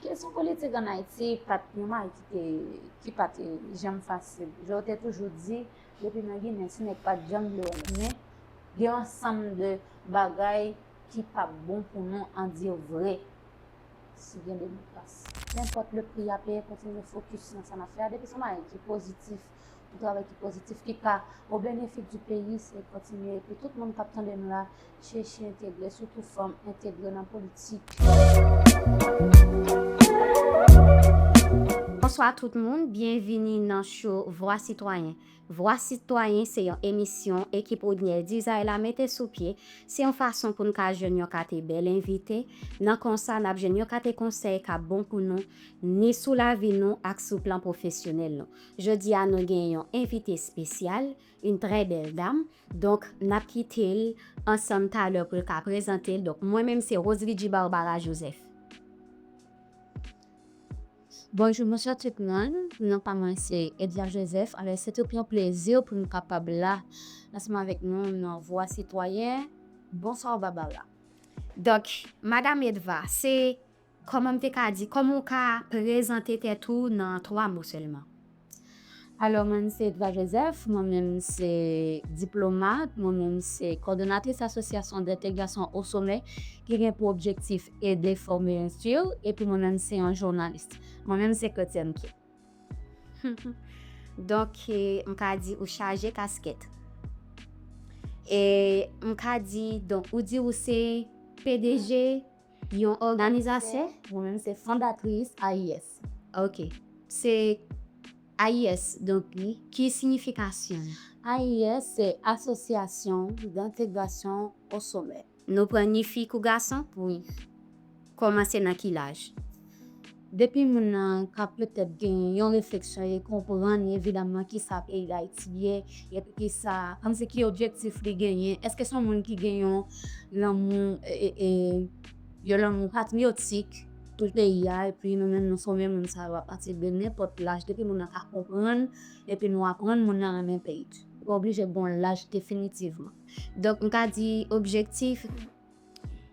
Kesyon politik an Ayiti pa t yon malite ki pa t janm fasil. Jan yo te toujou di, depi nan Ginen, ti nèg pa t janm vle wè l. Men, gen yon ansanm de bagay ki pa p bon pou nou an di yo vre si gen demokrasi. Nenpòt le pri a peye, kontinye fokis nan sa n ap fè a. Depi se yon bagay ki pozitif, yon travay ki pozitif ki ka o benefit di peyi se kontinye epi tout moun kap tande nou la cheche entegre sitou fanm entegre nan politik. Bonswa tout moun, byenvini nan show Vwa Sitwayen. Vwa Sitwayen se yon emisyon ekip Rodnel Dizay la mete sou pye, se yon fason pou n ka jwenn yon kate bèl envite, nan konsa nap jwenn yon kate konsèy kap bon pou nou, ni sou lavi nou ak sou plan pwofesyonèl nou. Jodi a nou gen yon envite espesyal, yn trè bèl dam, donk nap kitel ansanm talè poul ka prezantel, donk mwen menm se Roselidji Barbara Joseph. Bonjou bonswa tout moun, non pa mwen se Edla Joseph, alò se tout yon plezi poum kapab la ansanm avèk nou nan vwa sitwayen, bonsoir Barbara. Donk madam Edva se Kòman m te ka di, kòman ou ka prezante tèt ou nan 3 mo sèlman? Alò, mwen m se Edva Joseph, mwen menm m se diplomat, mwen menm m se kòdonatris Asosyasyon Dentègrasyon O Somè ki gen pou objektif ede, fòme, enstwir, epi mwen menm m se yon jounalis. Mwen menm m se Kretyèn tou. Donk, m ka di ou chaje kaskèt. E m ka di, donk, ou di ou se pdg. Yon òganizasyon? Mwen menm se fondatris AIS. Ok. Se AIS donk li. Ki siyifikasyon l? AIS se Asosyasyon Dantegrasyon Osomè. Nou pran ni fi kou gason? Wi. Kòmanse nan ki laj? Depi moun nan ka petèt gen yon refleksyon e konprann evidamman kisa peyi Dayiti ye, epi kisa, kòmsi ki objektif li genyen, èske son moun ki gen yon lanmou, yon lanmou patriyotik pou peyi a, epi nou menm nou fòme moun sa yo apati de nenpòt laj, depi moun nan ka konprann, epi nou aprann moun nan renmen peyi, li pa oblije gon laj definitivman. Donk m ka di objektif.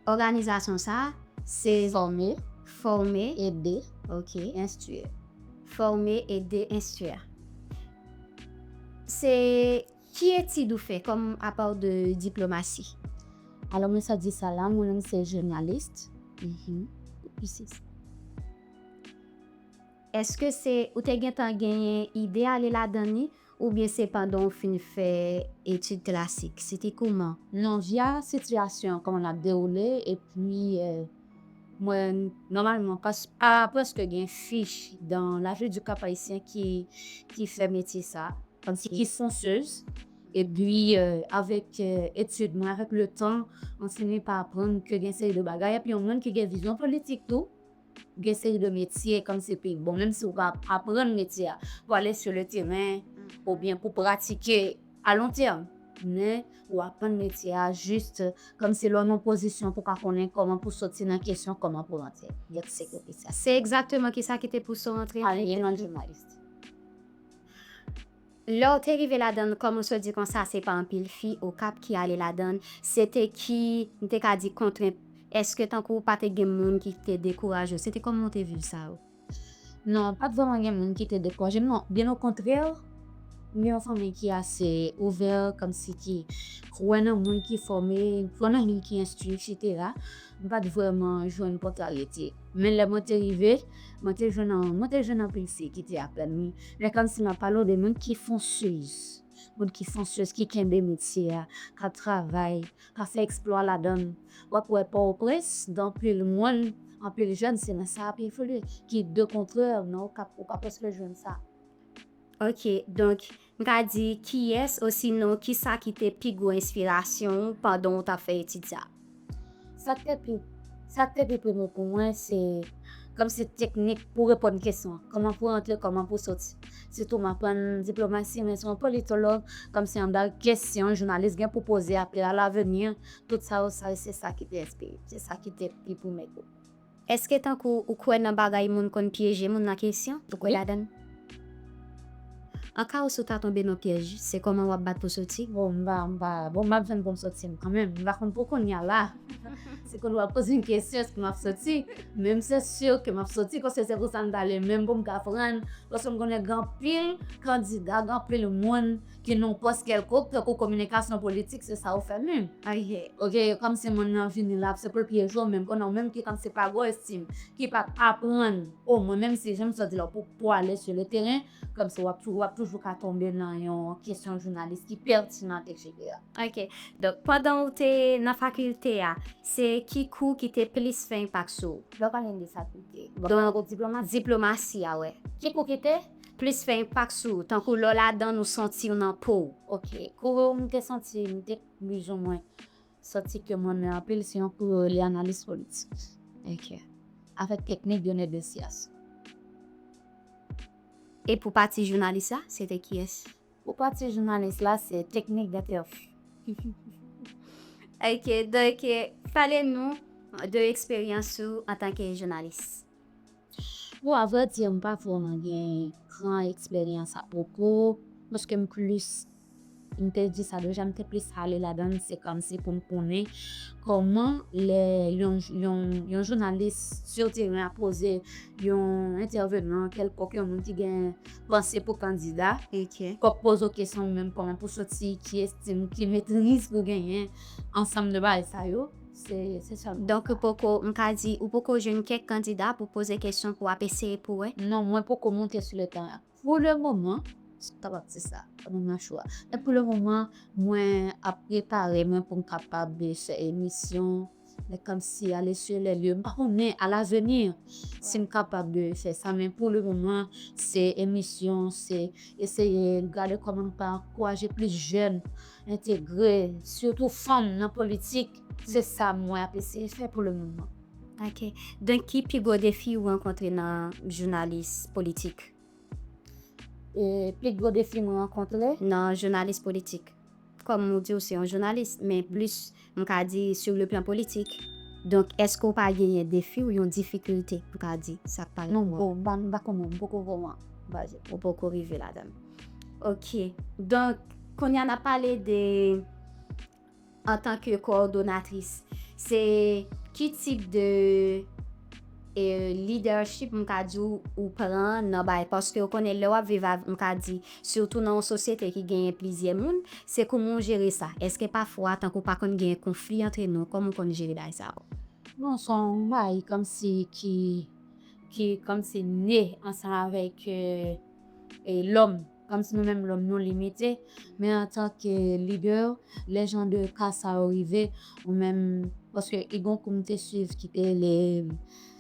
Òganizasyon sa a se. Fòme, fòme, ede, ok, enstwir. Fòme, ede, enstwir. Se ki etid ou fè kòm apa w de diplomasi? Alò mwen sa di sa la, mwen menm se jounalist. Eske se ou te gentan genyen ide ale ladan li? Oubyen se pandan w fin fè etid klasik? Se te kouman? Non, via sitiyasyon an, kòman l ap dewoule, epi mwen nòmalman pa prèske gen fich dan La Vie du Cap Haïtien ki fè metye sa, kòmsi ki fonseuz. Epi avèk etid mwen, avèk letan, mwen fini pa aprann ke gen seri de bagay, epi yon moun ki gen vizyon politik tou. Gen seri de metye kòm se pi bon menm si ou pa aprann metye a pou ale sou le teren oubyen pou pratike a lon tèm men ou aprann metye a jis kòm si lè w nan yon pozisyon pou w ka konnen kòman pou w soti nan kesyon kòman pou w rantre mèt sekirite sa. Se egzakteman kisa ki te pouse w rantre? Anyen nan jounalis. Lèw te rive ladann kòm ou so di konsa se pa anpil fi okap ki ale ladann se te ki m te ka di kontrent eske tankou pa te gen moun ki te dekouraje w se te kòman w te viv sa yo? Non pat vrèman gen moun ki te dekouraje m non byen okontrè m gen yon fanmi ki ase ouvè kòmsi ki kwè nan moun ki fòme kwè nan moun ki enstwi etc. M pa t vrèman jwenn kontrariyete, men lè mwen te rive, mwen te jwenn mwen te jwenn anpil fi ki te aprann m. Men kòmsi m ap pale w de moun ki fonsez, moun ki fonsez, ki kenbe metye a, k ap travay, k ap fè eksplwa ladan l. W ap wè Pòtoprens, gen anpil moun, anpil jèn se nan sa y ap evolye, ki de kontrè nan Okap, ou pa prèske jwenn sa. Ok, donk, M ka di kiyès osinon kisa ki te pi gwo enspirasyon ou pandan ou t ap fè etid sa a? Sa k te pi Sa k te pi prime pou mwen se kòmsi teknik pou reponn kesyon, kòman pou antre, kòman pou soti. Sitou m aprann diplomasi men se yon politològ, kòmsi anba kesyon jounalis gen pou poze apre alaveni, tout sa yo sa se sa ki te enspire, se sa ki te pi prime tou. Eske tankou ou kwè nan bagay moun konn pyeje moun nan kesyon? Ou kwè ladan l? An ka ou si w ta tonbe nan pyèj, se kòman w ap bat pou soti? Bon, m pa, m pa, bon m ap jwenn pou m soti m kanmenm. M pa konn pou kounya la. Si kounye w ap poze m kesyon èske m ap soti, men m se si ke m ap soti paske se pou sa m t ale menm pou m ka aprann paske m konnen gen anpil kandida, gen anpil moun. Ki non pòs kèlkonk tankou kominikasyon politik se sa ou fè menm ay hè ok kòmsi moun nan vini la se poul pyeje w menm konnen w menm ki kòmsi pa gwo estim ki pap aprann o mwen menm si janm sòti la pou pou ale su le teren kòmsi wap tou wap toujou ka tonbe nan yon kesyon jounalis ki pètinan etc. Ok donk pandan ou te nan fakilte a se ki kou ki te plis fè enpak sou ou. Lè w pale de fakilte. Donk diplomasi. Diplomasi a wè. Ki kou ki te. plis fè enpak sou ou tankou lè w ladan l ou santi w nan po w. Ok, kouri w m te santi m te plizoumwen santi ke m renmen anpil se yon kouri yo rele analiz politik. Ok. Avèk teknik Dionne Desias. E pou pati jounalis la, se te kiyès? Pou pati jounalis la, se teknik Dentherfy. Ok, donk pale nou de eksperyans ou antanke jounalis. Bon a vrai dire m pa vrèman gen gran eksperyans ak Coco paske m plis m te di sa deja m te plis ale ladan l se kòm si pou m konnen kòman lè yon yon yon jounalis sur teren ap poze yon entèvenan kèlkonk yon moun ki gen panse pou kandida k ap poze w kesyon ou menm kòman pou w soti ki estim ki metriz pou w genyen ansanm de bagay sa yo. Se sa. Donk ou poko, m ka di, ou poko jwenn kèk kandida pou poze kesyon pou w ap eseye pou wè? Non, mwen poko monte sou le teren. Pou le moman, si m kapab di sa, m nan nan chou a. Men pou le moman, mwen ap prepare mwen pou m kapab fè emisyon, men kòmsi a le sye le lye. M pa konnen a laveni si m kapab fè sa, men pou le moman se emisyon, se eseye gade kòman m ka ankouraje plis jèn. entegre sitou fanm nan politik se sa mwen ap eseye fè pou le moman. Ok. Donk ki pi gwo defi ou rankontre nan jounalis politik? Pi gwo defi mwen rankontre? Nan jounalis politik. Kòm ou di ou se yon jounalis men plis M ka di sur le plan politik. Donk eske w pa genyen defi ou yon difikilte m ka di sa k pa rive w an? Non, m pa konnen, m poko wè w an baz. Ou poko rive ladan l. Ok. Donk, kounye a n ap pale de antanke kowòdonatris. Se ki tip de. E leadership m ka di w ou pran nan bay paske ou konnen lè w ap viv avèk m ka di sitou nan yon sosyete ki genyen plizyè moun se kouman w jere sa èske pafwa tankou pa konn genyen konfli antre nou kòman w konn jere bagay sa yo? Bon s on bagay kòmsi ki kòmsi ne ansanm avèk lòm. Kòmsi nou menm lòm nou limite, men antanke lidè, lè jan de ka sa yo rive, ou menm, paske i gon kou m te swiv ki te rele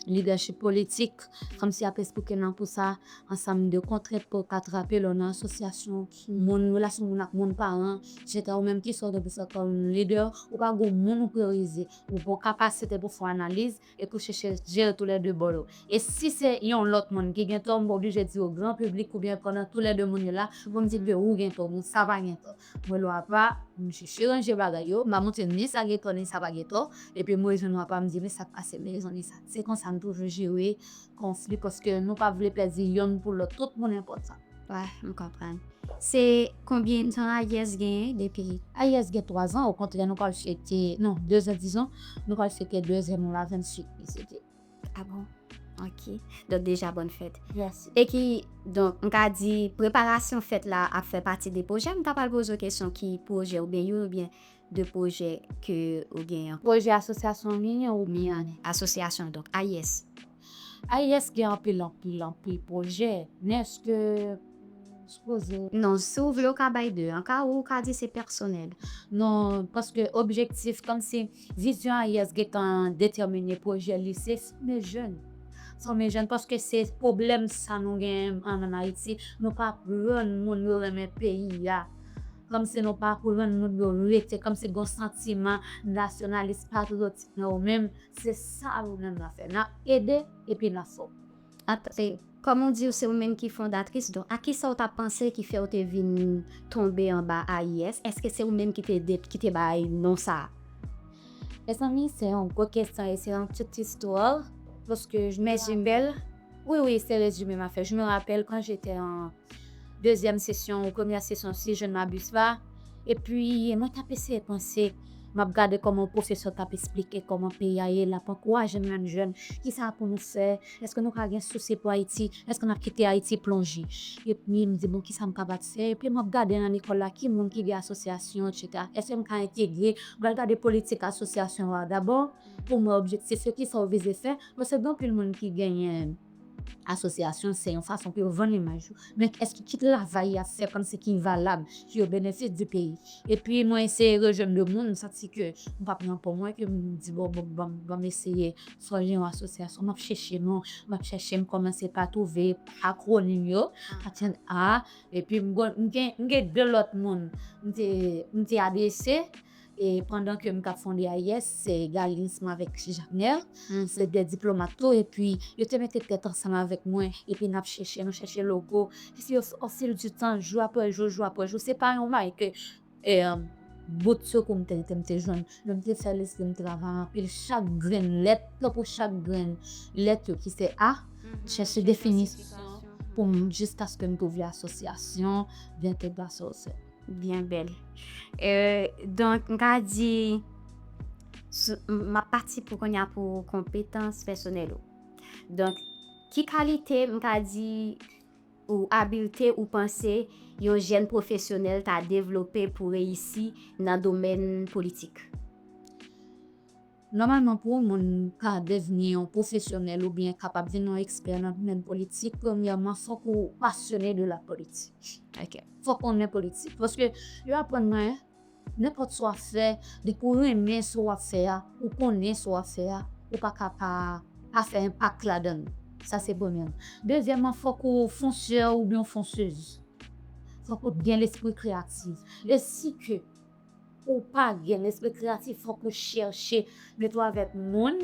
lidèchip politik, kòmsi y ap esplike nan kou sa ansanm de kontrent pou w ka trape lè w nan asosyasyon moun, relasyon moun ak moun, paran, etsetera. Ou menm kisa w gen pou w fè kòm lidè? Ou pa gon moun ou priyorize? Ou gon kapasite pou w fè analiz? e touche chèz je yo tou lè 2 bò yo. E si se yon lòt moun ki gen tò, m oblije di yo gran piblik oubyen pandan tou lè 2 moun yo la, pou m di l ke wou gen tò, men sa pa gen tò. Mwen lwa apa, m chèche ranje bagay yo, m a montre l ni sa gen tò ni sa pa gen tò, epi m rejwenn lwa apa m di men sa k pase men rezon ni sa. Se konsa n toujou jere konfli paske nou pa vle pèdi yonn pou lòt, tout moun enpòtan. Wè, m konprann. Se konbyen tan Alyès genyen depi? Alyès gen 3 zan, okontrè nou pral fete, non, 2 zan dizon, nou pral fete 2 zan nou la 28 li sete. A bon? Ok. Donk deja bòn fèt. Mèsi. E ki, donk m ka di preparasyon fèt la ap fè pati de pwojè? M ta pral poze w kesyon ki pwojè oubyen youn oubyen. de pwojè ke ou gen an. Pwojè asosyasyon ou genyen ou byen asosyasyon donk AIS. AIS gen anpil anpil anpil pwojè men eske sipoze. Non si ou vle ou ka bay 2 an ka ou ka di se pèsonèl. Non paske objektif kòmsi vizyon AIS gentan detèmine pwojè li se fòme jèn. Fòme jèn paske se pwoblèm sa nou genyen an Ayiti nou pa aprann moun yo renmen peyi a. Kòmsi nou pa aprann moun yo rete, kòmsi gon santiman nasyonalis patriyotik nan yo menm, se sa nou menm nan fè, nan ede epi nan fò. Atè, kòm ou diw se ou menm ki fondatris, donk ak kisa ou ta panse ki fèw te vin tonbe anba AIS, èske se ou menm ki te de, ki te bay non sa a? Mezanmi se yon gwo kesyon e se yon tout istwa, paske je me rappelle, wi wi se rezime ma fè, je me rappelle quand j'étais en. dezyèm sesyon ou premyè sesyon si je ne m'abuse la epi mwen tap eseye panse map gade kòman pwofesè tap esplike kòman peyi a ye lap ankouraje menm jèn kisa pou nou fè èske nou ka gen sousi pou Ayiti èske nap kite Ayiti plonje epi m di bon kisa m kapab fè epi map gade nan lekòl la ki moun ki gen asosyasyon etc èske m ka entegre m pral gade politik asosyasyon an dabò pou m wè objektif yo kisa yo vize fè paske gen anpil moun ki genyen. Asosyasyon se yon fason pou yo vann imaj yo. Men eske ki travay y ap fè kòm se ki valab ki o benefis di peyi. Epi mwen eseye rejwenn 2 moun m santi ke m pa pran pou mwen ke m di bon ban m eseye fòje yon asosyasyon. M ap chèche non, m ap chèche m kòmanse pa twouve akwonim yo. Atenn a. Epi m gen 2 lòt moun m te adrese. E pandan ke m t ap fonde AIS, se Galinsma avèk Jaknèl, se de diplomat tou, epi yo te mete tèt ansanm avèk mwen, epi n ap chèche, nou chèche logo, epi o fil di tan, jou apre jou, jou apre jou, se pa yon bagay ke bout sekou m te rete m te jwenn, men m te fè lespri m travay anpil, chak grenn lèt, tankou chak grenn lèt yo ki se A, m chèche definisyon pou m, jiskaske m twouve asosyasyon, vètebra, sa yo se. Byen bèl. Donk m ka di, m ap pati pou kounye a pou konpetans pèsonèl ou. Donk, ki kalite m ka di ou abilte ou panse yon jèn pwofesyonèl ta devlope pou reyisi nan domèn politik? Nòmalman pou yon moun ka devni yon pwofesyonèl oubyen kapab vin yon ekspè nan domèn politik premyèman fòk ou pasyone de la politik ok fòk konnen politik paske yo aprann mwen nenpòt sa wap fè depi ou renmen sa wap fè a ou konnen sa wap fè a ou pa ka pa pa fè enpak ladann sa se premyèman dezyèman fòk ou fonsè oubyen yon fonsez fòk ou gen lespri kreyatif e si ke. Ou pa gen lespri kreyatif fòk ou chèche de twa vèt moun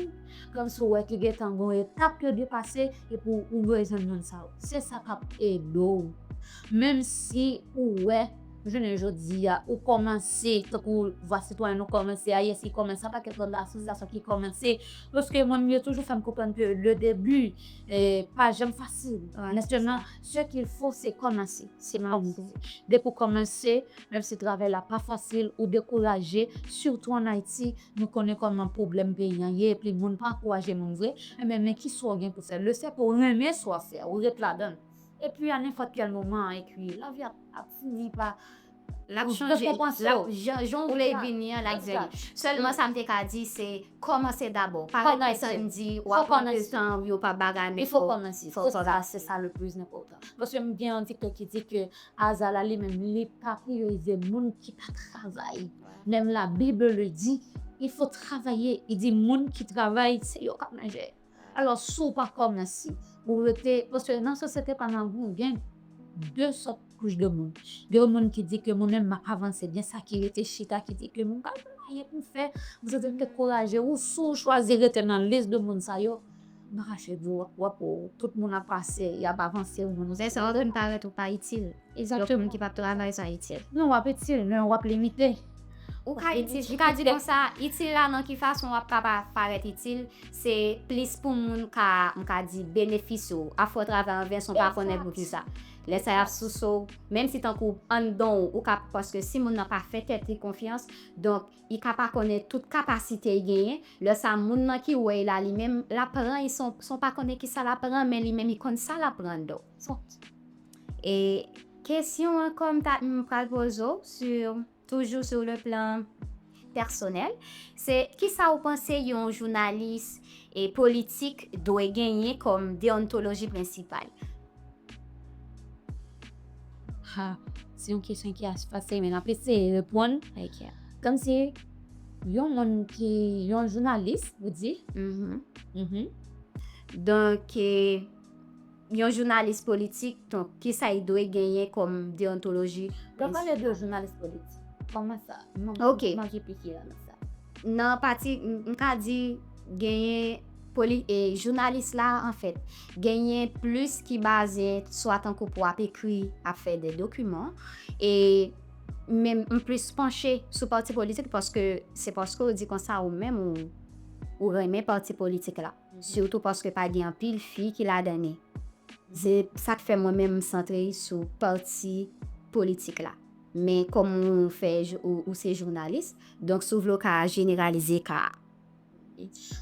kòm si ou wè ki gentan gon etap yo depase epi ou bezwen moun sa yo. Se sa kap ede w menm si ou wè jounen jodi a ou kòmanse tankou vwa sitwayen nou kòmanse a yes li kòmanse a pakèt lòt asosiyasyon ki kòmanse paske mwen menm yo toujou fè m konprann ke le debi pa janm fasil men sèlman se kil fo se kòmanse se mwen menm tou depi ou kòmanse Menm si travay la pa fasil ou dekouraje sitou an Ayiti nou konnen kòman pwoblèm peyi an ye epi moun pa ankouraje moun vre enben men ki swa w gen pou fè le fèt ou renmen sa w ap fè a ou ret ladan l epi a nenpòt kèl moman an epi lavi a ap fini pa l ap chanje l ap jan jan w vle l vini an l ap vini sèlman sa m te ka di se kòmanse dabò pa ret desann di w ap pran de tan w yo pa bagay men fò w kòmanse fò w kòmanse se sa le plis enpòtan paske m gen yon dikte ki di ke Aza la li menm li pa priorize moun ki pa travay menm la bible le di il faut travailler li di moun ki travay se yo kap manje alò si w pa kòmanse ou rete paske nan sosyete pa nou an gen 2 sòt kouch de moun gen yon moun ki di ke mwen menm map avanse gen sa ki rete chita ki di ke mwen pa gen anyen pou m fè mwen se te dekouraje ou si w chwazi rete nan lis de moun sa yo Mache di wap wap ou tout moun ap pase yap avanse ou menm. Lè sa wap vin parèt ou pa itil. Lè moun ki pap travay sa itil. Non wap itil men wap limite. Ou ka itil, m ka di konsa itil la nan ki fason wap ka parèt itil se plis pou moun ka m ka di benefisye w. A fè w travay an vens ou pa konnen poukisa. Lè sa yap souse w menm si tankou anndan w ou ka paske si moun nan pa fè tèt li konfyans donk. I ka pa konnen tout kapasite I genyen, lè sa moun lan ki wè I la li menm lap pran I son son pa konnen kisa lap pran men li menm I konn sa lap pran do son e kesyon ankò m ta m pral poze w si toujou sou le plan pèsonèl se kisa ou panse yon jounalis e politik dwe genyen kòm deontoloji prensipal. Ha, se yon kesyon ki ach fasil men nap eseye reponn. Ok. Kòm si yon moun ki yon jounalis ou di. Mhm. Mhm. Donk e, yon jounalis politik donk kisa li dwe genyen kòm deontoloji? Lè w pale de jounalis politik, kòman sa? Ok. Mwen manke piki la nan sa. Nan pati m ka di genyen jounalis la anfèt genyen plis ki baze swa tankou pou ap ekri ap fè de dokiman e men m plis panche sou pati politik paske se paske ou di konsa ou menm ou renmen pati politik la sitou paske pa gen anpil fi ki ladan li se sa k fè mwen menm m santre sou pati politik la. Men kòm ou fè ou se jounalis, donk si w vle w ka jeneralize ka a.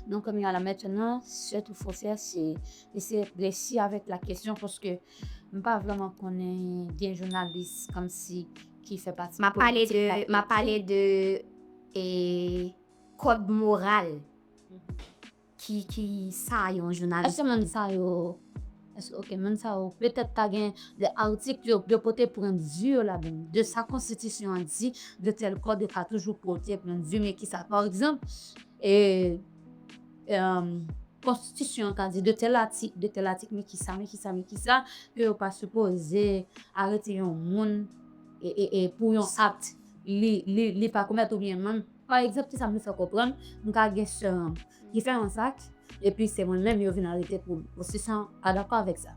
Donk kounye a la mètenan, sè tou fò fè se eseye presi avèk la kesyon paske m pa vrèman konnen gen jounalis kòmsi ki fè pati politik la ki fè. M ap pale de kòd moral. ki ki sa yon jounalis eske moun sa yo eske ok moun sa yo petèt ta gen de atik yo yo pote pwen de vue yo ladann de sa konstitisyon an di de tèl kòd yo ka toujou pote pwen de vue men kisa pa egzanp e emm konstitisyon an ka di de tèl atik de tèl atik men kisa men kisa men kisa ke yo pa sipoze arete yon moun e e e pou yon akt li li li pa komèt oubyen menm Pa egzanp, ki sa m vle fè konprann, m ka gen sè an m ki fè yon zak, epi se mwen menm yo vin arete pou m. Ou si sa w pa dakò avèk sa?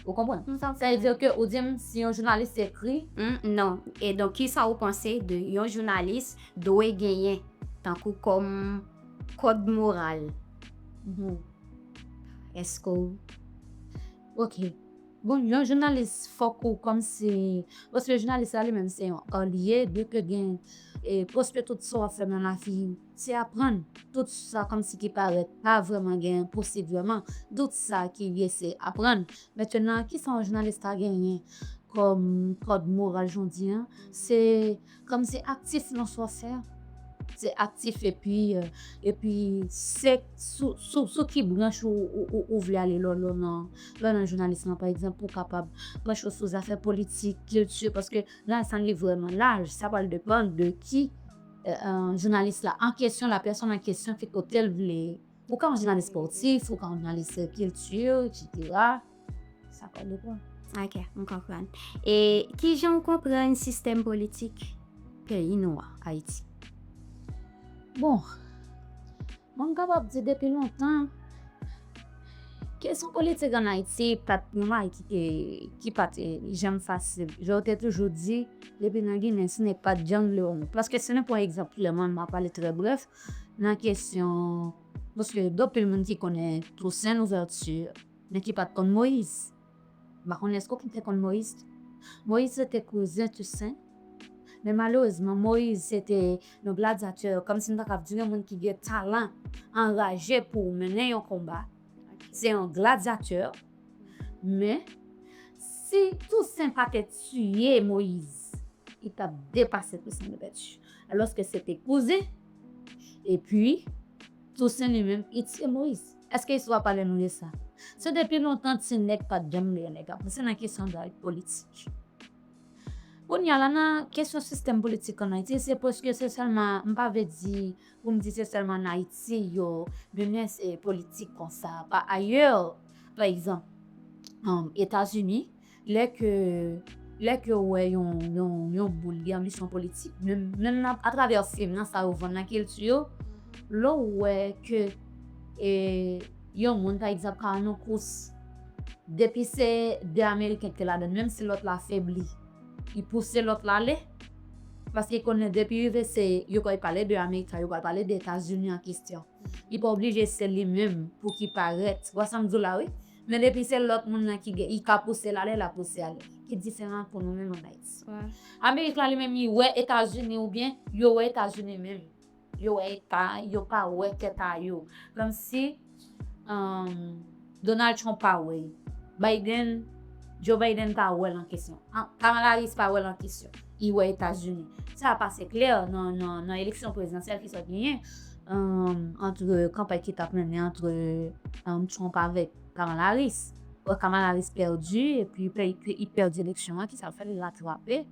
Ou konprann? Sa vle di ke ou di m si yon jounalis te ekri. Hum, non. E donk ki sa ou panse de yon jounalis dwe genyen tankou kòm kòd moral? Hum. Èske w. Ok. Bon yon jounalis fok ou komsi paske jounalis la li menm se yon olye de ke gen e paske tout sa wap fè nan lafi se aprann tout sa komsi ki paret pa vreman gen posib vreman dout sa ki vye se aprann mentenan kisa yon jounalis ka genyen kom kod moral jodi an se Kòm se aktif non sa w fè a. Se aktif epi epi se sou ki branch ou vle ale lò lò nan lò nan jounalis lan pa egzanp ou kapab branche w sou zafè politik, kilti paske rans an li vrèman laj sa pral depann de ki jounalis la an kesyon la pèsòn an kesyon ki kote l vle Ou ka yon jounalis spòtif, ou ka yon jounalis kilti, eksetera. Sa pa depan. Ok, m konprann. E ki jan ou konprann sistèm politik peyi nou an, Ayiti? Bon, mwen m kapab di depi lontan, kesyon politik ann Ayiti pa t yon bagay ki te, ki pa te janm fasil. Jan w te toujou di, depi nan Ginen, si nèg pa t janm vle wè nèg. Paske si nou pran egzanp Kilòmàn, m ap pale trè brèf, nan kesyon paske gen anpil moun ki konnen Toussaint Louverture men ki pat konn Moïse m pa konnen èske ou te konn Moïse tou Moïse se te kouzen Toussaint men malerezman Moïse se te yon gladyatè kòm si m ta kab di yon moun ki gen talan anraje pou w mennen yon konba se yon gladyatè men si Toussaint pa te tiye Moïse li tap depase Toussaint Louverture Alòske se te kouzen. Epi, Tousen li menm, li tiye Moyiz. Eske istwa pale nou de sa? Se depi lontan ti nèg pa t janm lè nèg avanse nan kesyon dayt politik. Kounye a la, nan kesyon sistèm politik ann Ayiti, se prèske se sèlman, m pa vle di, pou m di se sèlman ann Ayiti yo mennen politik konsa. Pa ayè, pa egzanp, Etazini, Lè ke, lè ke ou wè yon, yon, yon moun gen anbisyon politik, menm, menm nan, a travè fim, nan sa yo vann, nan kilti yo, lè ou wè ke e yon moun pa egzanp ka nan yon kous, depi se 2 ameriken ki te ladan l, menm si lòt la febli, li pouse lòt la ale, paske li konnen depi rive se, yo pral pale de America, yo pral pale de Etazini an kestyon. Li pa oblije se li menm pou ki parèt. Ou wè sa m di w la wi? Men depi se lòt moun nan ki gen li ka pouse l ale l ap pouse ale ki diferan ak pou nou menm an Ayiti. Amerik la li menm li wè Etazini oubyen yo wè Etazini menm yo wè eta yo pa wè tèt a yo kòmsi Donald Trump pa wè l Biden Joe Biden pa wè l an kesyon Kamala Harris pa wè l an kesyon. I wè Etazini. Sa ap ase klè nan eleksyon prezidansyèl ki sot genyen antre kanpay ki tap mennen antre Trump avèk Kamala Harris. Kamala Harris pèdi epi li pèdi eleksyon an ki sa l fè li ratrape.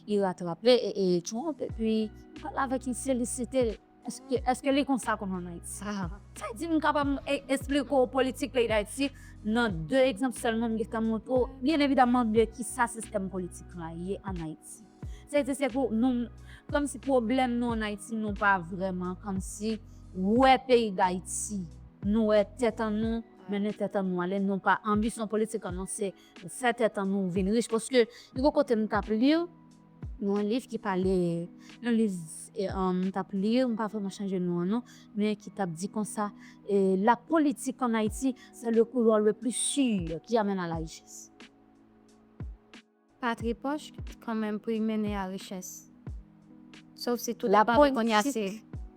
Li ratrape Trump epi li pale avèk li felisite l. Eske li konsa kòm an Ayiti? Sa di m kapab esplike w politik peyi Dayiti nan 2 egzanp sèlman m gentan montre w byen evidaman de kisa sistèm politik la ye an Ayiti. Se di se pou nou kòm si pwoblèm nou an Ayiti nou pa vrèman kòm si wè peyi Dayiti. Nou wè tèt an nou mennen tèt an nou ale nou pa anbisyon politik an nou se fè tèt an nou vin rich paske li gon kote m t ap li. Nou yon liv ki pale, yon liv m t ap li, m pa vreman chanje non an non, men ki t ap di konsa, La politique en Haïti, c'est le couloir le plus sûr qui amène à la richesse. Patri pòch kan menm pou y mennen a richès. Sof si tout depan nou kounye a se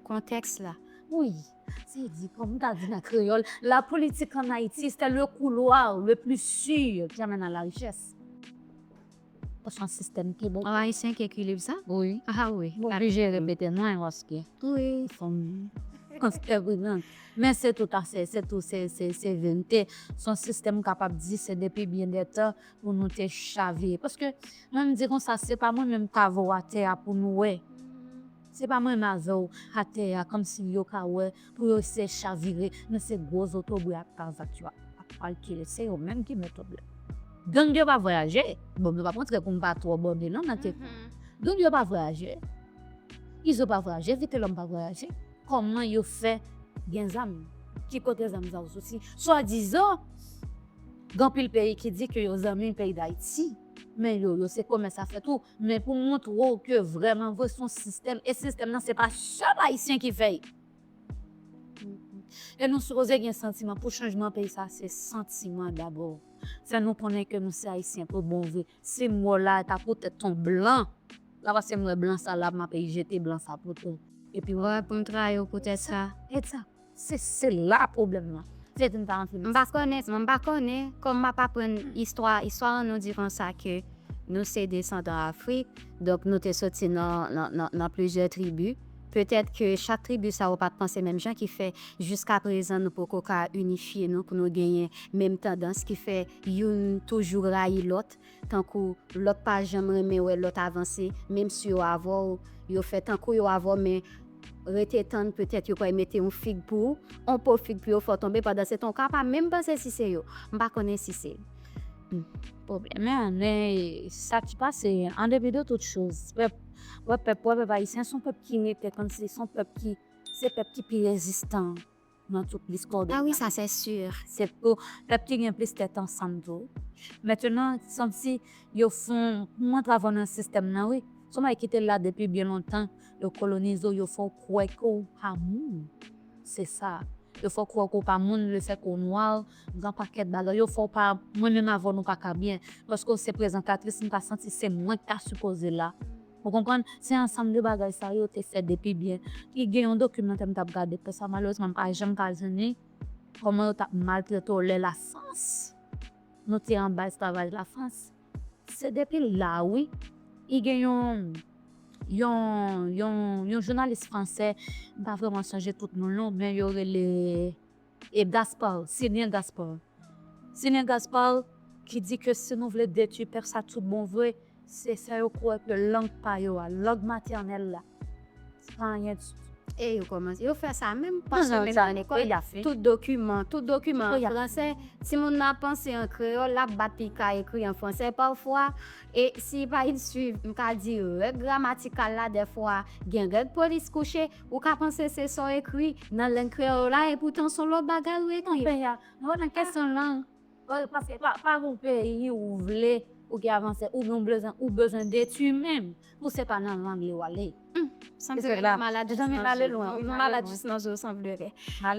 kontèks la. Wi, se di kòm m ta di nan kreyòl, La politique en Haïti, c'est le couloir le plus sûr qui amène à la richesse. Pwochen sistèm pi bon. An ayisyen ki ekri liv sa? Wi. Ah wi. M oblije repete mwen paske. Wi. Fòm antre pridan. Men se tout afè, se tout se, se, se verite. S on sistèm m kapab di se depi byen dè tan pou nou te chavire. Paske mwen m di konsa se pa mwen menm k avowa tè a pou nou wè. Se pa menm avèw atè a kòmsi yo ka wè pou yo eseye chavire men se gwo zotobre ak kravat yo ap kalkile se yo menm ki metòd la. Gang yo pa vwayaje, bon mwen pap antre poum pa twò bòde non nan ke sa. Gang yo pa vwayaje, izo pa vwayaje, vitelòm pa vwayaje, kòman yo fè gen zam, ki kote zam sa yo soti? Swadizan gen anpil peyi ki di ke yo zanmi peyi dayiti men yo yo se komès afè tou, Men pou montre w ke vreman vre se yon sistèm e sistèm nan se pa sèl ayisyen ki fè l. E nou sipoze gen santiman pou chanjman peyi sa se santiman dabò. Fè nou konnen ke nou se ayisyen pou bon vre. Si m wè w la e ta pou tèt yon blan la paske m wè blan sa la m ape jete blan sa pote w. Epi wè w ap konn trayi w pou tèt sa. Ekzat. Se se la pwoblèm lan. Se di m pa anfibis. M pa konnen, m pa konnen kòm m ap aprann istwa. Istwa an nou di konsa ke nou se desandan Afrik, donk nou te soti nan plizyè tribi. Petèt ke chak tribi sa yo pa t panse menm jan ki fè jiskaprezan nou poko ka inifye nou pou nou genyen menm tandans ki fè youn toujou rayi lòt. tankou lòt pa janm renmen wè lòt avanse menm si yo avèw yo fè tankou yo avèw men rete tann petèt yo pral mete yon fig pou ou yon po fig pou yo fè w tonbe pandan se tan ou ka pa menm panse si se yo m pa konnen si se pwoblèm nan men sa ki pase an depi de tout choz pèp wè pèp wè pèp ayisyen son pèp ki rete kòmsi son pèp ki se pèp ki pi rezistan. nan tout lis kòdonay. Ah wi sa sè sur. Se pou pèp ki gen plis tèt ansanm tou. Mentenan santi yo fon kouman travay nan sistèm nan wi. Son bagay ki te la depi byen lontan. Yo kolonize w yo fè w kwè ke w pa moun. Se sa. Yo fè w kwè ke w pa moun le fèt ke w nwa w gen yon pakèt bagay yo fè w pa mwen menm avè w nou pa ka byen. Paske w se prezantatris m ta santi se mwen ki ta sipoze la. Ou konprann? Se ansanm de bagay sa yo te fè depi byen. Li gen yon dokimantè m t ap gade pou sa, malerezman m pa janm ka jwenn li, kòman yo t ap maltrete w lè Lafrans, nou te anba esklavaj Lafrans. Se depi la a wi. Li gen yon, yon, yon, yon jounalis fransè, m pa vrèman sonje tout non l non, men yo rele. E Gaspard, Senye Gaspard. Senye Gaspard ki di ke si nou vle detwi pèp sa tout bon vre, se fè yo kwè ke lang pa yo a, lang matènèl la, se pa anyen ditou. E yo kòmanse, yo fè sa menm panse menm nan lekòl, tout dokiman, tout dokiman an fransè, timoun nan ap panse an kreyòl, l ap bat li ka ekri an fransè pafwa, e si li pa suiv, m ka di, règ gramatikal la dèfwa, gen règ polis kouche. Ou ka panse se sa w ekri nan lang kreyòl w la, epoutan s on lòt bagay ou ekri. Konpè a, mwen wè nan kesyon lang, paske pa gon peyi ou vle pou ki avanse, ou gen bezwen, ou bezwen detui menm pou se pa nan lang li w ale. Humm, sanble nou malad jis nan zo, nou malad jis nan zo sanblere.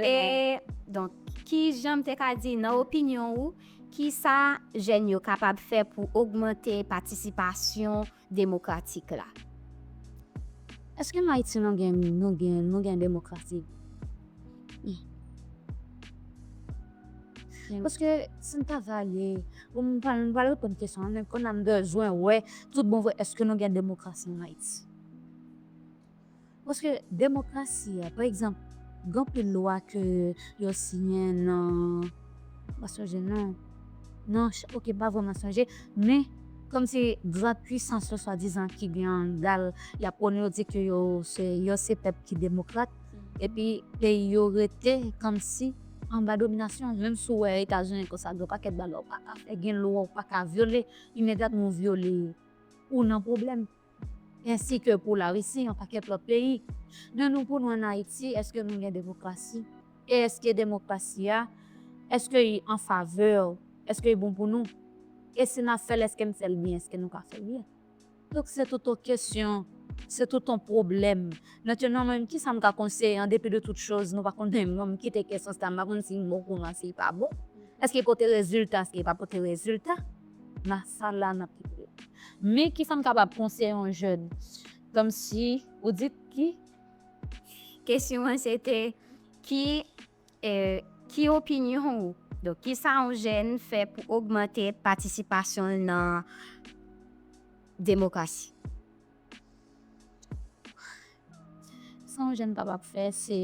E, donk, ki jan m te ka di, nan opinyon ou, ki sa jèn yo kapab fè pou ogmante patisipasyon. demokratik la. Eske an Ayiti nou gen nou gen nou gen demokrasi? Paske si m ta vale pou m pa m pa reponn kesyon an men konn a m bezwen wè tout bon vre eske nou gen demokrasi an Ayiti. Paske demokrasi a, pa egzanp, gen anpil lwa ke yo siyen nan, m pa sonje non, nan, ok m pa vrèman sonje, men kòm se gran pwisans yo swadizan ki gen an gal, y ap prone yo di ke yo se, yo se pèp ki demokrat, epi peyi yo rete kòmsi anba dominasyon, menm si w wè Etazini konsa gen yon pakèt bagay ou pa ka fè, gen lwa ou pa ka vyole, imedyatman ou vyole yo, ou nan pwoblèm. ensi ke pou Larisi yon pakèt lòt peyi. De nou pou nou an Ayiti, èske nou gen demokrasi? E èske demokrasi a, èske i an favè, èske i bon pou nou? E si n ap fè l, èske n fè l byen, èske nou ka fè l byen? Donk se tout on kesyon, se tout on pwoblèm. Mentenan mwen menm ki sa m ka konseye? An depi de tout choz, nou pa konnen, mwen m kite kesyon sa, m pa konnen si l bon pou nou an si l pa bon. Èske l pote rezilta, èske l pa pote rezilta? nan sal la nan piblik. Men kisa m kapab konseye yon jèn kòmsi ou di ki? Kesyon an se te ki ki opinyon ou donk kisa yon jèn fè pou ogmante patisipasyon l nan demokrasi. Sa yon jèn kapab fè se,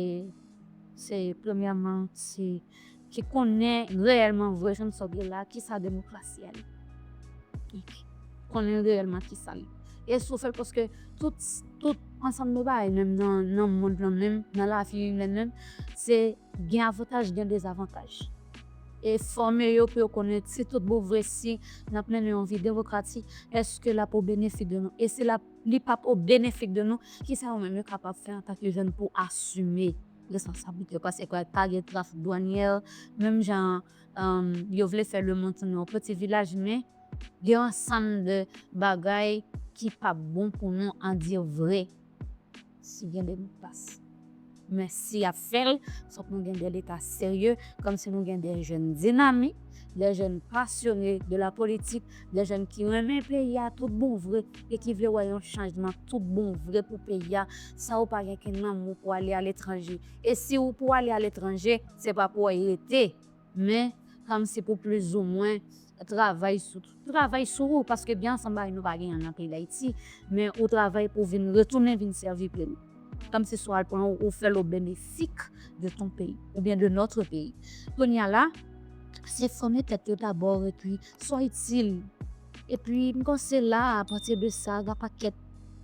se premyèman se ki konnen reyèlman vre jan sa w ye la kisa demokrasi a ye. Ok. Konnen reyèlman kisa l ye. E si w fè l paske tout, tout ansanm de bagay menm nan mond lan menm, nan lavi imèn menm se gen avantaj gen dezavantaj. E fòme yo pou yo konnen si tout bon vre si n ap mennen yon vi demokratik èske l ap o benefik de nou. E si l ap. Li pap o benefik de nou. Kisa yo menm yo kapab fè antan ke jèn pou asime responsablite yo? Paske pral pa gen trafik dwanyè, menm jan an yo vle fè lemonn tounen yon peti vilaj, men gen yon ansanm de bagay ki pap bon pou nou andire vre. si gen de mo pas men si yap fèl fòk nou gen de leta serye kòm si nou gen de jèn dinamik de jèn pasyone de la politik de jèn ki renmen peyi a tout bon vre e ki vle wè yon chanjman tout bon vre pou peyi a san ou pa gen ken nanm ou pou ale aletranje e si ou pou ale aletranje se pa pou wè rete. Men, kòm se pou plizoumwen travay sou travay sou ou, paske byen ansanm bagay nou pa genyen l nan peyi Dayiti, men ou travay pou vin retounen vin sèvi peyi w. Kòm se sou w al pran w, ou fè l o benefik de ton peyi, oubyen de nòtre peyi. Kounye a la, se fòme tèt yo dabò epi swa itil. Epi m panse la a, apati de sa, gen pakèt,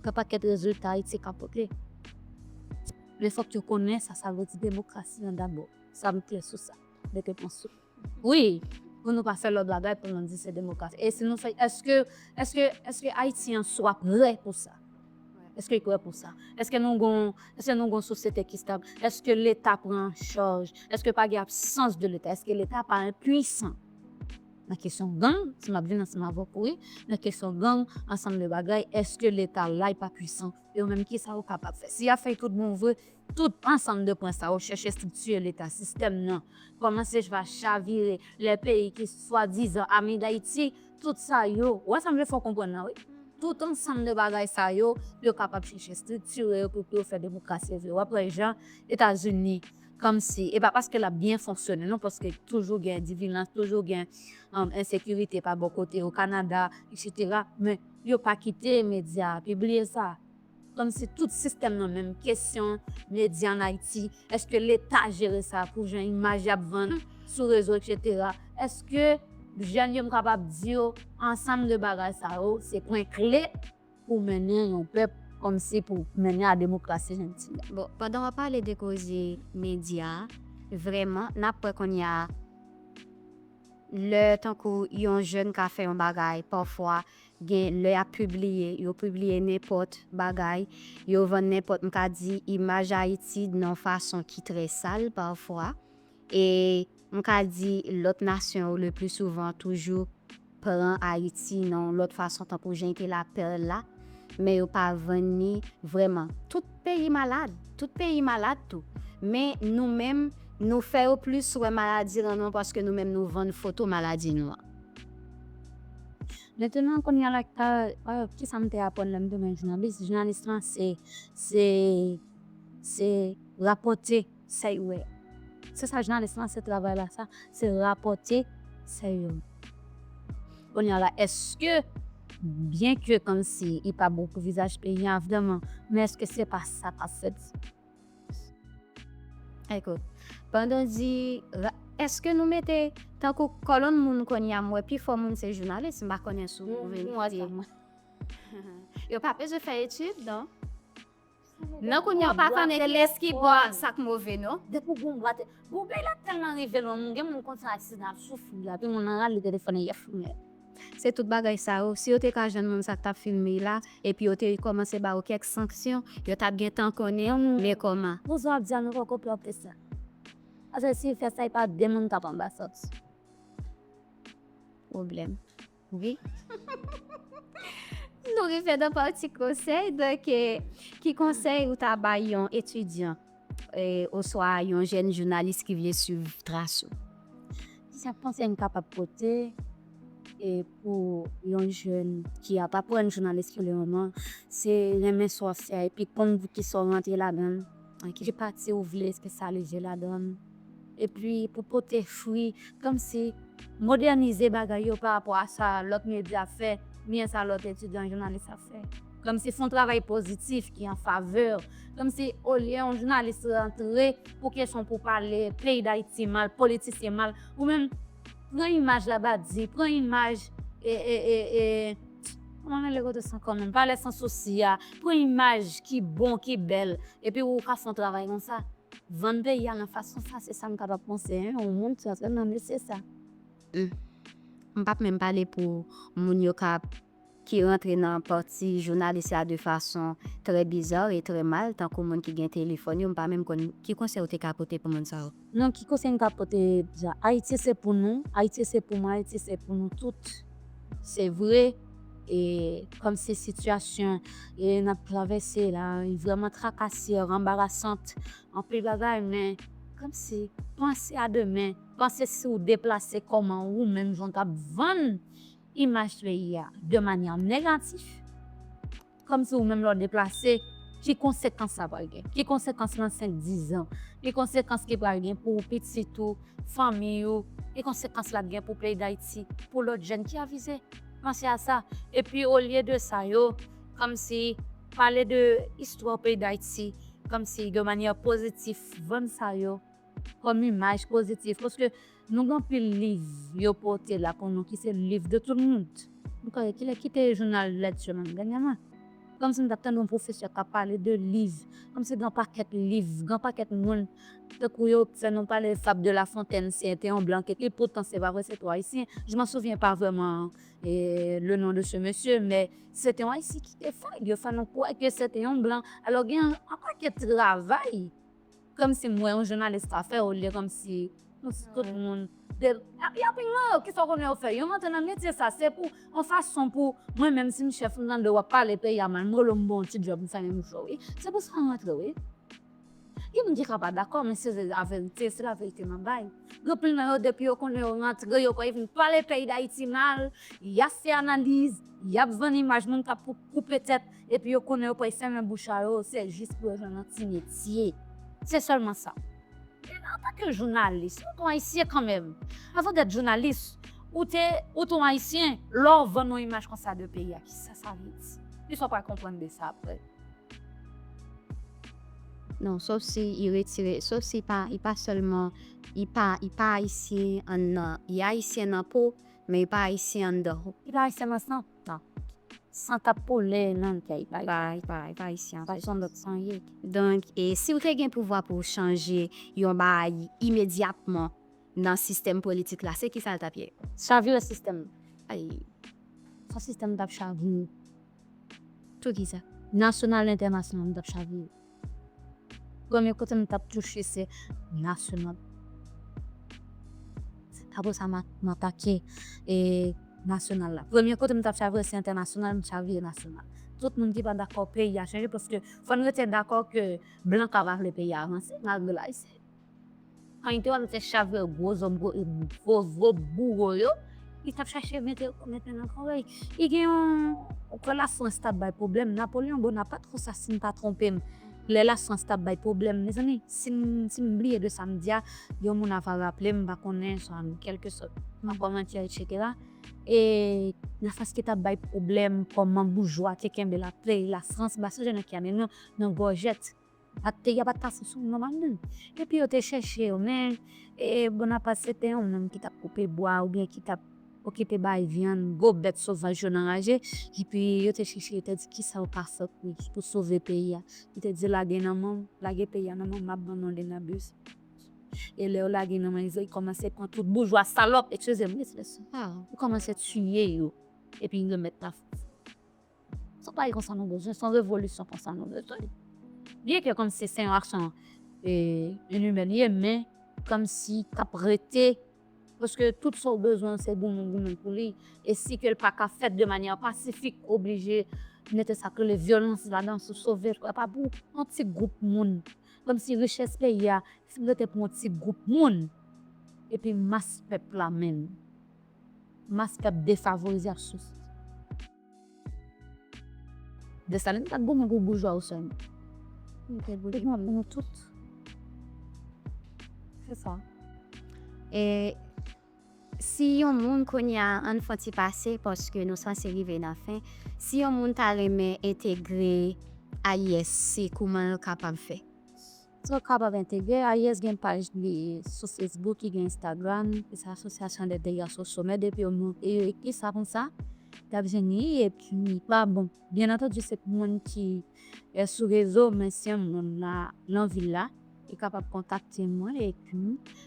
gen pakèt rezilta Ayiti ka pote. Men fòk yo konnen sa sa vle di demokrasi an dabò. Sa m klè sou sa. Mete pwen sou i. Wi, pou nou pa fè lòt bagay pou nou di se demokrasi. E si nou fè, èske, èske, èske Ayisyen sou a prè pou sa? Èske y prè pou sa? Èske nou gon, èske nou gon sosyete ki stab? Èske Leta pran an chaj? Èske pa gen absans de Leta? Èske Leta pa enpuisan? Nan kesyon gang, si m ap vin ansanm avèk ou wi, nan kesyon gang, ansanm de bagay, èske Leta la y pa puisan? Yo menm ki sa yo kapab fè? Si y ap fè tout bon vre, Tout ansanm de pwen sa yo chèche striktire leta, sistèm nan kòmanse va chavire lè peyi ki swadizan ami Dayiti, tout sa yo, ou wè sa m vle fè w konprann la wi, tout ansanm de bagay sa yo, yo kapab chèche striktire yo pou pou yo fè demokrasi yo vle. W ap wè jan Etazini kòmsi, e pa paske l ap byen fonksyone non, paske toujou gen divilans, toujou gen ensekirite pa bò kote yo, Kanada, eksetera, men yo pa kite medya pibliye sa. Komsi tout sistèm nan menm kesyon media an ayiti eske leta jere sa pou jan imaj yap vann sou rezo etc eske jèn yo m kapab di yo ansanm de bagay sa yo se pwen kle pou mennen yon pèp komsi pou mennen a demokrasi jan l di a. Bon pandan wap pale de koze media vrèman nap wè konnya lè tankou yon jèn ka fè yon bagay pafwa Gen lè yap pibliye, yo pibliye nenpòt bagay, yo vann nenpòt m ka di imaj Ayiti dn yon fason ki trè sal pafwa. E m ka di lòt nasyon yo le pli souvan toujou pran Ayiti nan yon lòt fason tankou jan ki la perle la, men yo pa vann ni vrèman. Tout peyi malad, tout peyi malad tou. Men nou menm nou fè yo plis wè maladi lan nou an paske nou menm nou vann foto maladi nou an. Mwen tounen konn yal ak kisa m te aprann lè m tounen jounalis. Jounalis lan se se rapòte sa yo wè. Se sa jounalis lan se travay la sa, se rapòte sa yo wè. Kounye a la èske byenke kòmsi li pa bon pou vizaj peyi a vreman men èske se pa sa k ap fèt. Ekout, pandan w di ra, eske nou mete tankou kòlonn moun kounye a m wè pifò moun se jounalis, m pa konnen si w verifye. Yo pa bezwen fè etid non. Nan kounye a w pa konnen kiyès ki bon ak sa k move non. Depi w gen yon bwate, bon peyi la tèlman rive lwen, moun gen moun konsa aksidan ap soufri, epi moun nan rale telefòn li ap filme. Se tout bagay sa yo, si yo te ka jwenn moun sa k t ap filme y la, epi yo te kòmanse ba yo kèk sanksyon, yo t ap gen tan konnen ou, men kòman? Pou sa w ap di a nou poko pran plis la. Paske si w fè sa e pa de moun k ap anba sa w t sou pwoblèm wi. Nou rive nan pati konsèy, donk ki konsèy ou ta bay yon etidyan Oswa yon jèn jounalis ki vle swiv tras ou? Ki senp konsèy nou kapab pote pou yon jèn ki ap aprann jounalis pou le moman, se renmen sa w ap fè a epi konn ki sa w rantre ladan l, ki pati ou vle espesyalize ladan l. epi pou pote fri kòmsi modènize bagay yo pa rapò a sa lòt medya ap fè oubyen sa lòt etidyan jounalis ap fè kòmsi fè yon travay pozitif ki an favè kòmsi olye yon jounalis rantre pou kesyon pou pale peyi dayiti mal politisyen mal ou menm pran imaj labadi pran imaj kòman rele kote san kò menm palè san sousi a pran imaj ki bon ki bèl epi ou ka fè yon travay konsa. Vann peyi a nan fason sa se sa m kapab panse hein yon moun ki antre nan mesye sa. Humm m pap menm pale pou moun yo kap ki rantre nan pati jounalis la de fason trè bizarre e trè mal tankou moun ki gen telefòn yo m pa menm konn ki konsèy ou te ka pote pou moun sa yo. Non ki konsèy m ka pote dja ayiti se pou nou ayiti se pou mwen ayiti se pou nou tout se vre. E kòm se sitiyasyon e nap travèse la, li vrèman trakasè, ranbarasant, anpil bagay men kòm si panse a demen, panse si ou deplase kòman ou menm jan w tap vann imaj peyi a de manyè negatif. Kòmsi ou menm lè w deplase, ki konsekans sa pral gen? Ki konsekans nan senk dizan? Ki konsekans ki pral gen pou pitit ou, fanmi ou? Ki konsekans l ap gen pou peyi Dayiti, pou lòt jèn ki avize? Panse a sa. Epi olye de sa yo kòmsi pale de istwa peyi Dayiti kòmsi de manyè pozitif vann sa yo kòm imaj pozitif paske nou gen anpil liv yo pote la pou nou ki se liv de tout mond nou ka wè kilè ki te jounal lèt yo menm dènyèman kòmsi nou t ap tande yon pwofesè k ap pale de liv kòmsi gen yon pakèt liv gen yon pakèt moun tankou yo fè nou pale fab de la fontèn se te yon blan ki ekri poutan se pa vre se te yon ayisyen je m'en souviens pas vraiment le nom de ce monsieur men se te yon ayisyen ki te fè l yo fè nou kwè ke se te yon blan alò gen yon pakèt travay Komsi m wè yon jounalis pa fè olye komsi nou se tout moun de yap vin mwen yo kisa w konnen yo fè yo rantre nan metye sa se pou yon fason pou mwen menm si m chèf m tande wap pale peyi a mal molo m bon ti djòb m fè yon jou wi se pou sa m rantre wi gen moun ki ka pa dakò men se laverite se laverite map bay gen pil nan yo depi yo konnen yo rantre yo pwal vin pale peyi dayiti mal yap fè analiz yap vann imaj moun kap koupe tèt. epi yo konnen yo pral fèmen bouch a yo se jis pou yo jwenn yon ti metye. Se sèlman sa. Men antanke jounalis, ou ton Ayisyen kanmenm. Avan w t èt jounalis, ou te ou ton Ayisyen. Lè w vann yon imaj konsa de peyi a, ki sa sa vle di? Ki sa w pral konprann de sa apre? Non, sof si i retire, sof si pa i pa sèlman, i pa i pa Ayisyen an nan, i Ayisyen nan po, men i pa Ayisyen anndan. I pa Ayisyen nan san. San k ap koule nan kèy Ayisyen pa janm lòt san ye. Donk, si w te gen pouvwa pou w chanje yon bagay imedyatman nan sistèm politik la, se kisa l t ap ye? Chavire sistèm nan. Ay! Sa sistèm nan t ap chavire. Poukisa? Nasyonal entènasyonal li t ap chavire. Premye kote m tap touche se nasyonal. Apre sa m atake nasyonal la. Premye kote m tap chavire se entènasyonal, m chavire nasyonal. Tout moun ki pa dakò peyi a chanje paske fò n rete dakò ke blan pa vle peyi a avanse malgre l ayisyen. Panito an se chavè gwo zòb gwo e gwo gwo bouro yo ki tap chache mete mete nan korèy. I gen yon lè la frans tap bay pwoblèm Napoleon Bonaparte konsa sim pa twonpe m lè la frans tap bay pwoblèm mezanmi sim sim bliye de sam di a yon moun ava raple m m pa konnen sa m kèlke sòt nan kòmantè etc. E la frans ki tap bay pwoblèm kòman boujwa te kenbe la play la frans ba sa je nan ki amenn nou nan gòjèt. Bakteri a pa t ka fonksyone nòmalman. Epi yo te chèche yo, men Bonaparte se te yon moun ki t ap koupe bwa oubyen ki t ap okipe bay vyann gwo bèt sovaj yo nan raje. Epi yo te chèche, yo te di kisa yo ka fè pou sove peyi a. Li te di lage nan men m, lage peyi a nan men m, m ap ban nou Lenabes. E lè yo lage nan men l, li kòmanse pran tout boujwa salòp, ekskize m wi ekspresyon sa a, li kòmanse tiye yo epi remèt la Frans. Se yon bagay konsa nou bezwen, se yon revolisyon konsa nou bezwen. Byen ke kòmsi se yon aksyon inimè li ye, men kòmsi k ap rete, paske tout sa ou bezwen an se goumen, goumen pou li, e si ke l pa ka fèt de manyè pasifik, oblije mete sa k rele vyolans ladan sou sove l. Sa pa pou yon ti gwoup moun. Kòmsi richès peyi a fin rete pou yon ti gwoup moun, epi mas pèp la menm, mas pèp defavorize ap soufri. Desalin pat goumen pou boujwa ou sèlman. Li te goumen pou nou tout. Se sa. E si yon moun kounye a an fon ti pase paske nou sanse rive nan fen. Si yon moun ta renmen entegre AISC kouman l kapab fè? Eske w kapab entegre AIS gen paj li sou Facebook ki gen Instagram ki se Association des Dégâts Sociaux men depi yo monte yo ekri sa konsa y ap jwenn li epi li pa bon byen antandi se pou moun ki sou rezo men si yon moun nan vil la li kapab kontakte mwen epi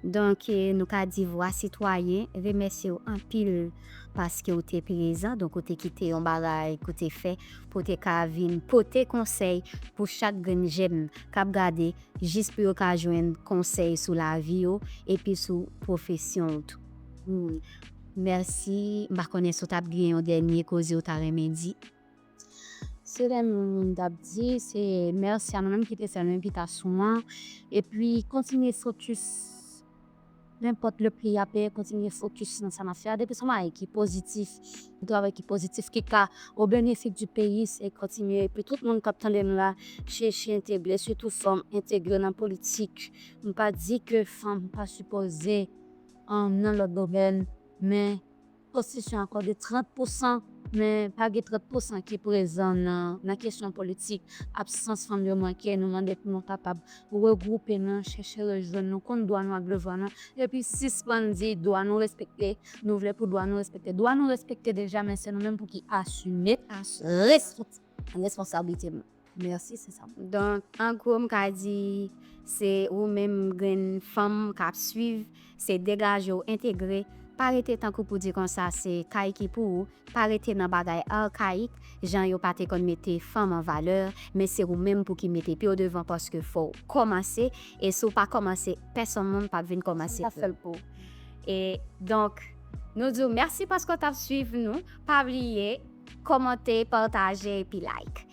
Donk nou ka di Vwa Sitwayen remèsye w anpil paske w te prezan, donk ou te kite yon bagay ke w te fè pou w te ka vin pote konsèy pou chak grenn jèn k ap gade jis pou yo ka jwenn konsèy sou lavi yo epi sou pwofesyon w tou. Mèsi. M pa konnen si w t ap gen yon dènye koze w ta renmen di? Se lè moun t ap di se mèsi a nou menm ki te fè envitasyon an epi kontinye fokis nenpòt le pri a peye kontinye fokis nan sa n ap fè a depi se yon bagay ki pozitif yon travay ki pozitif ki ka o benefis di peyi se kontinye epi tout moun k ap tande m la chèche entegre sitou fanm entegre nan politik m pa di ke fanm pa sipoze nan lòt domèn men. Konstitisyon akòde 30 pou san, men pa gen 30 pou san ki prezan nan kesyon politik. Absans fanm yo manke, nou mande pou nou kapab regwoupe nou, chèche rejwenn nou, konn dwa nou ak devwa nou, epi sispann di dwa nou respekte, nou vle pou dwa nou respekte. Dwa nou respekte deja, men se nou menm pou ki asime responsabilite nou. Merci se sa m. Donk an gwo m ka di se ou menm grenn fanm k ap swiv se degaje w entegre pa rete tankou pou di konsa se kay ki pou ou pa rete nan bagay arkayik jan yo pa te konn mete fanm an valè men se ou menm pou ki mete pye w devan paske fò w kòmanse e si w pa kòmanse pèsonn moun p ap vin kòmanse pou ou e donk nou di w mèsi paske w t ap swiv nou pa bliye kòmante pataje epi like.